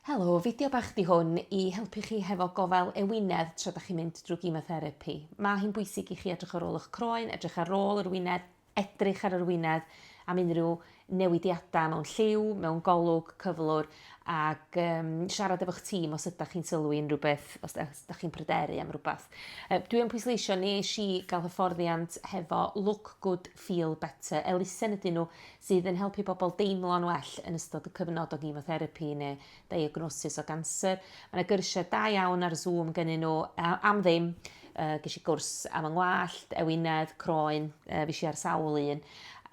Helo, fideo bach di hwn i helpu chi hefo gofal ewinedd tra da chi'n mynd drwy gimotherapy. Mae hi'n bwysig i chi edrych ar ôl eich croen, edrych ar ôl yr wynedd, edrych ar yr wynedd am unrhyw newidiadau mewn lliw, mewn golwg, cyflwr, ac um, siarad efo'ch tîm os ydych chi'n sylwi unrhyw beth, os ydych chi'n pryderu am rhywbeth. Uh, dwi yn pwysleisio, nes i gael hyfforddiant hefo Look Good, Feel Better, elusen ydyn nhw sydd yn helpu pobl deimlo'n well yn ystod y cyfnod o gimotherapi neu ddiagnosis o ganser. Mae yna gyrsiau da iawn ar Zoom gynnyn nhw am ddim. Uh, ges i gwrs am yng ngwallt, ewinedd, croen, uh, fes i ar sawl un.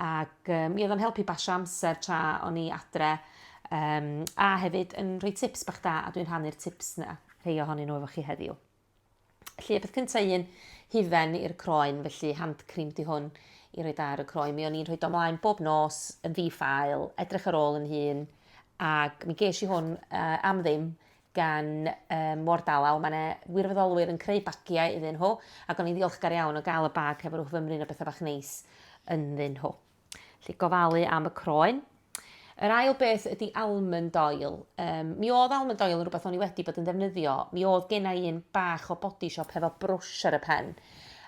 Ac uh, mi oedd o'n helpu basio amser tra o'n i adre. Um, a hefyd yn rhoi tips bach da, a dwi'n rhannu'r tips na, rhai ohonyn nhw efo chi heddiw. Felly, y peth cynta un, hufen i'r croen, felly hand cream di hwn i roi ar y croen. Mi o'n i'n rhoi domlaen bob nos yn ddi-ffael, edrych ar ôl yn hun, ac mi ges i hwn uh, am ddim gan um, Wardalaw. Mae yna wirfoddolwyr yn creu bagiau iddyn nhw, ac o'n i'n ddiolchgar iawn o gael y bag hefo'r rhywbeth fymryn o bethau bach neis ynddyn nhw. Felly gofalu am y croen. Yr ail beth ydy almond oil. Um, mi oedd almond oil yn rhywbeth o'n i wedi bod yn ddefnyddio. Mi oedd gen i un bach o body shop hefo brwsh ar y pen.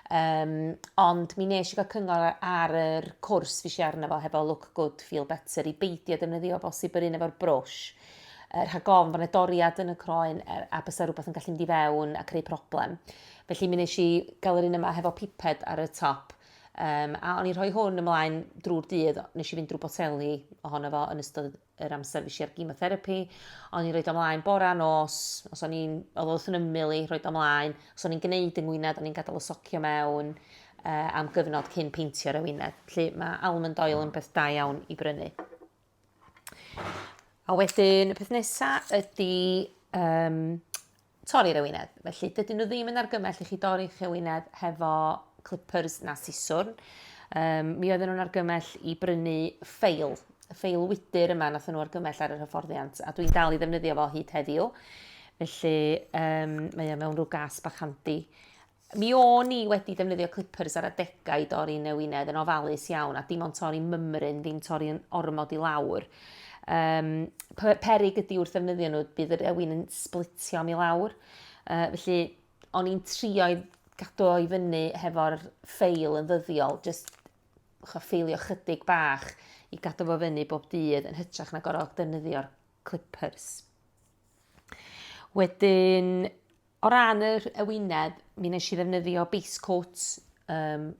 Um, ond mi nes i gael cyngor ar yr cwrs fi si arno fo hefo Look Good, Feel Better i beidio defnyddio bosib yr un efo'r brwsh. Er, rhag ofn bod yna doriad yn y croen er, a bysa rhywbeth yn gallu mynd i fewn a creu problem. Felly mi nes i gael yr un yma hefo piped ar y top. Um, a o'n i'n rhoi hwn ymlaen drwy'r dydd, nes i fynd drwy boteli ohono fo yn ystod yr amser fes i ar gymotherapy. O'n i'n rhoi ymlaen bora nos, os o'n i'n, oedd wrth yn ymwyl i, rhoi ymlaen. Os o'n i'n gwneud yng ngwynedd, o'n i'n gadael y socio mewn uh, am gyfnod cyn peintio ar y wynedd. Felly mae almond oil yn beth da iawn i brynu. A wedyn y peth nesaf ydy um, torri'r ewinedd. Felly dydyn nhw ddim yn argymell i chi dorri'ch ewinedd hefo clippers na siswrn. Um, mi oedden nhw'n argymell i brynu ffeil, y ffeil wydr yma nath nhw argymell ar yr hyfforddiant, a dwi'n dal i ddefnyddio fo hyd heddiw. Felly um, mae o mewn rhyw gas bach handi. Mi o'n i wedi defnyddio clippers ar adegau i dorri newinedd yn ofalus iawn a dim ond torri mymryn, ddim torri yn ormod i lawr. Um, perig ydy wrth ddefnyddio nhw, bydd yr ewin yn splitio am i lawr. Uh, felly, o'n i'n trio i gadw i fyny hefo'r ffeil yn ddyddiol, just cho ffeilio chydig bach i gadw fo fyny bob dydd yn hytrach na gorfod defnyddio'r clippers. Wedyn, O ran yr ewinedd, mi nes i ddefnyddio base coat, um,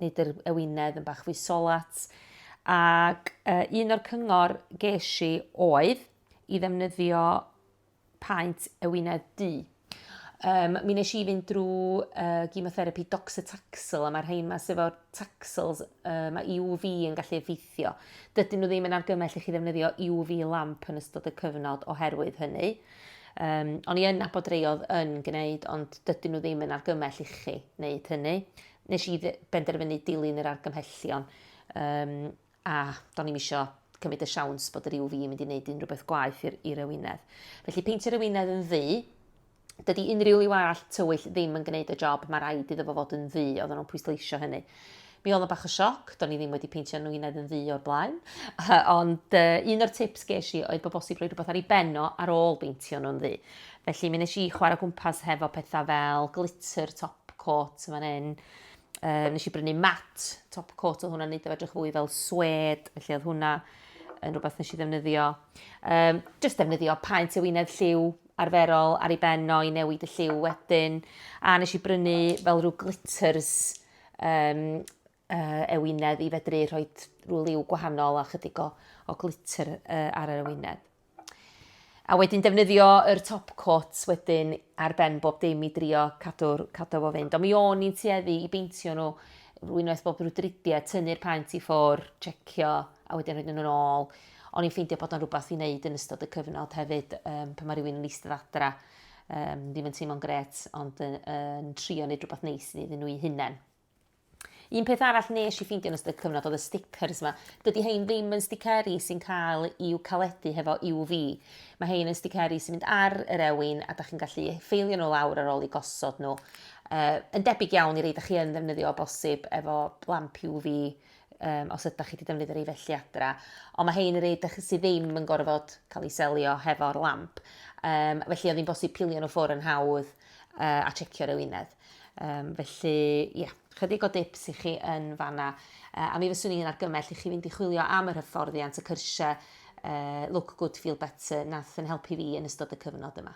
nid yr ewinedd yn bach fwy solat, ac uh, un o'r cyngor ges i oedd i ddefnyddio paent ewinedd du. Um, mi nes i fynd drwy uh, gymotherapy doxotaxel, a mae'r rhain ma sef o'r taxels, uh, mae UV yn gallu effeithio. Dydyn nhw ddim yn argymell i chi ddefnyddio UV lamp yn ystod y cyfnod oherwydd hynny. Um, o'n i yn nabod rei oedd yn gwneud, ond dydyn nhw ddim yn argymell i chi wneud hynny. Nes i benderfynu dilyn yr argymhellion, um, a do'n i'n eisiau cymryd y siawns bod yr UV yn mynd i wneud unrhyw beth gwaith i'r, i'r ewinedd. Felly peintio'r ewinedd yn ddu, dydy unrhyw liw arall tywyll ddim yn gwneud y job, mae rhaid iddo fo fod yn ddu, oedden nhw'n pwysleisio hynny. Mi oedd o bach o sioc, do'n i ddim wedi peintio nwynedd yn ddu o'r blaen, ond uh, un o'r tips ges i oedd bod bosib rhoi rhywbeth ar ei benno ar ôl beintio nhw'n ddu. Felly mi nes i chwarae gwmpas hefo pethau fel glitter top coat yma hyn, uh, nes i brynu mat top coat oedd hwnna'n neud o edrych fwy fel swed, felly oedd hwnna yn rhywbeth nes i ddefnyddio. Um, just defnyddio paent y wynedd lliw arferol ar ei ben o i newid y lliw wedyn. A nes i brynu fel rhyw glitters um, uh, ewinedd i fedru rhoi rhyw liw gwahanol a chydig o, o glitter uh, ar yr ewinedd. A wedyn defnyddio yr top coat wedyn ar ben bob dim i drio cadw'r cadw fo fynd. Ond mi o'n i'n tueddu i beintio nhw rwy'n oes bob rhyw dridiau, tynnu'r paent i ffwr, checio a wedyn rhaid nhw'n ôl. O'n i'n ffeindio bod o'n rhywbeth i wneud yn ystod y cyfnod hefyd um, pan mae rhywun yn eistedd adra um, ddim yn teimlo'n gret, ond yn, yn trio wneud rhywbeth neis iddyn nhw i hunain. Un peth arall nes i ffeindio yn ystod cyfnod oedd y stickers yma. Dydy hein ddim yn sticeri sy'n cael i'w caledu hefo UV. Mae hein yn sticeri sy'n mynd ar yr ewin a da chi'n gallu ffeilio nhw lawr ar ôl i gosod nhw. Uh, yn debyg iawn i reid a chi yn ddefnyddio o bosib efo lamp UV um, os ydych chi wedi defnyddio'r ei felly adra. Ond mae hein yn rhaid ydych sydd ddim yn gorfod cael ei selio hefo'r lamp. Um, felly oedd hi'n bosib pilio nhw ffwr yn hawdd uh, a checio'r ewinedd. Um, felly, ie, yeah, chydig o dips i chi yn fanna. Uh, a mi fyswn i'n argymell i chi fynd i chwilio am yr hyfforddiant y cyrsiau uh, Look Good Feel Better nath yn helpu fi yn ystod y cyfnod yma.